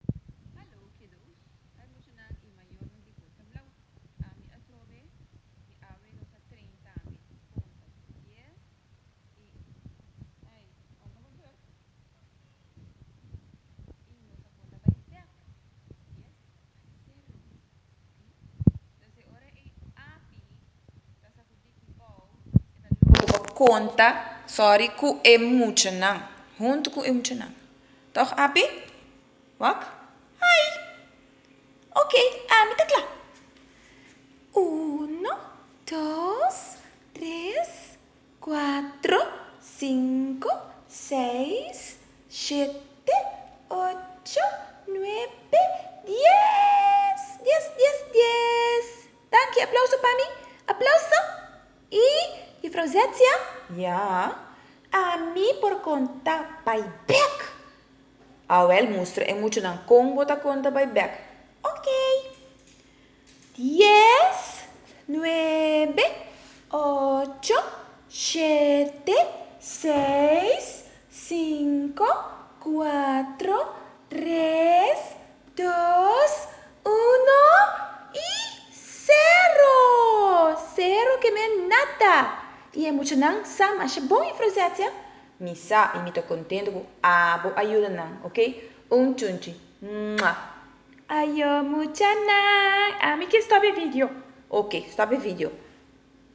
Hallo kiddo's, ai muchanan y mayornan di Bota Blau. Ami a trobe mi awe nos a train tambe. Punto. Yes y ai unda bo dorp y nos a por ta bai dek. Yes a tin room. Hm. Entonces ora e api ta sa cu. Bo konta sòri ku e muchanan. Huntu ku e muchanan. Tòg Api? Wak? Ai! Oke, ami ta kla. Uno, dos, tres, kuatro, sinku, seis, shete, ocho, nuebe, dies! Dies, dies, dies! Danki, aplauso pa mi. Aplauso! Y Jufrouw Zetzia? Ya, ami por conta bay bek. Awel, mustra e muchanan con bo ta conta bay bek. Ok. Dies, nuebe, ocho, shete, seis, cinco, cuatro, tres, Dos, uno y cero! Cero ke no e nada! Y e muchanan sa masha bon influenciá siá? Mi sa y mi ta contento cu abo a yuda nan, ok? Un chunchi! Mwah! Ayo muchanan! Ami quier stop e video! Ok, stop e video!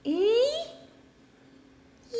Y ya!